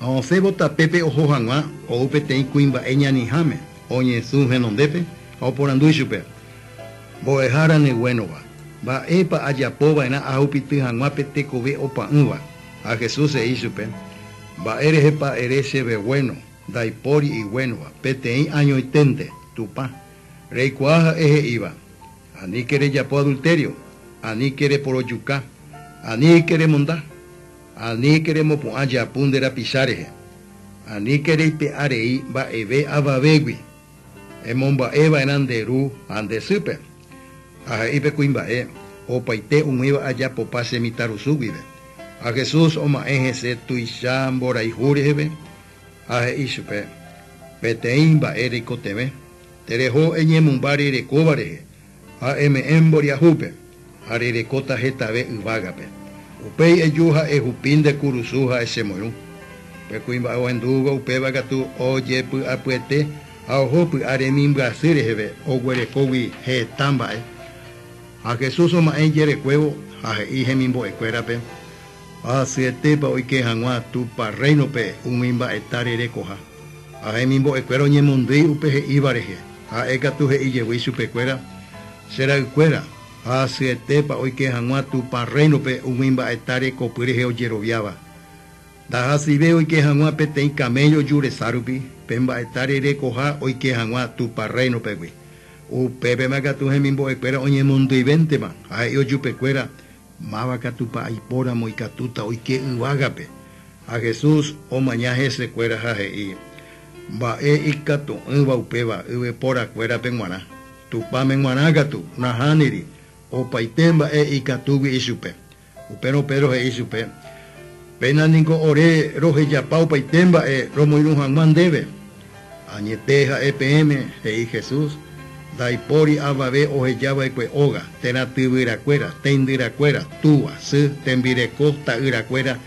Ha osẽvo tapépe oho hag̃ua, ou peteĩ kuimba'e ñaniháme, oñesũ henondépe ha oporandu ichupe, Mbo'ehára neguénova, mba'épa ajapo va'erã ahupity hag̃ua pe tekove opa'ỹva? Ha Jesús he'i ichupe, Mba'e rehepa ere chéve guéno, ndaipóri iguénova, peteĩ añoiténte, Tupã, reikuaa ha'e he'íva, Aníke rejapo adultério, aníke reporojuka, aníke remonda, aníke remopu'ã japu nde rapicha rehe, aníke reipe'a rei mba'eve avavégui, emomba'e va'erã nde ru ha nde sýpe, ha he'i pe kuimba'e, opaite umíva ajapopa che mitãrusu guive. Ha Jesús oma'ẽ hese tuicha mborayhu reheve ha he'i chupe, Peteĩ mba'e reikotevẽ. Tereho eñemymba rerekóva rehe, ha eme'ẽ mboriahúpe, ha rerekóta hetave yvágape. Upéi eju ha ehupi nde kurusu ha echemoirũ. Pe kuimba'e ohendúvo upéva katu ojepy'apyete ha oho py'a remimbyasy reheve oguerekógui heta mba'e. Ha Jesús oma'ẽ ijerekuévo ha he'i hemimbo'ekuérape, Ahasyetépa oike hag̃ua Tupã Rréinope umi mba'eta rerekoha. Ha hemimbo'ekuéra oñemondýi upe he'íva rehe, ha'e katu he'i jevy ichupekuéra, Che ra'ykuéra, ahasyetépa oike hag̃ua Tupã Rréinope umi mba'eta rekopy rehe ojeroviáva? Ndahasive oike hag̃ua peteĩ kaméllo jurecha rupi, pe mba'eta rerekoha oike hag̃ua Tupã Rréinopegui. Upépema katu hemimbo'ekuéra oñemondyivéntema, ha he'i ojupekuéra, Máva katupa aipóramo ikatúta oike yvágape? Ha Jesús omaña hese kuéra ha he'i, Mba'e ikatu'ỹva upéva yvypóra kuérape g̃uarã, Tupãme g̃uarã katu nahániri opaite mba'e ikatúgui ichupe. Upérõ Pedro he'i chupe, Péna niko ore rohejapa opaite mba'e romoirũ hag̃ua ndéve. Añete ha'e peẽme, he'i Jesús, ndaipóri avave oheja va'ekue óga, térã tyvyrakuéra, teindyrakuéra, túva, sy, tembireko, ta'yrakuéra,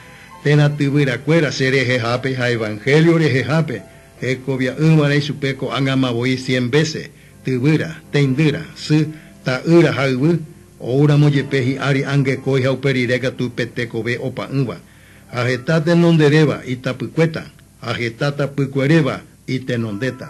térã tyvyrakuéra, che rehehápe ha evangelio rehehápe, hekovia'ỹva'erã ichupe ko'ág̃ama voi cien vése, tyvyra, teindýra, sy, ta'ýra ha yvy, oúramo jepe hi'ári angekói ha upe rire katu pe tekove opa'ỹva. Ha heta tenonderéva itapykuéta, ha heta tapykueréva itenondéta.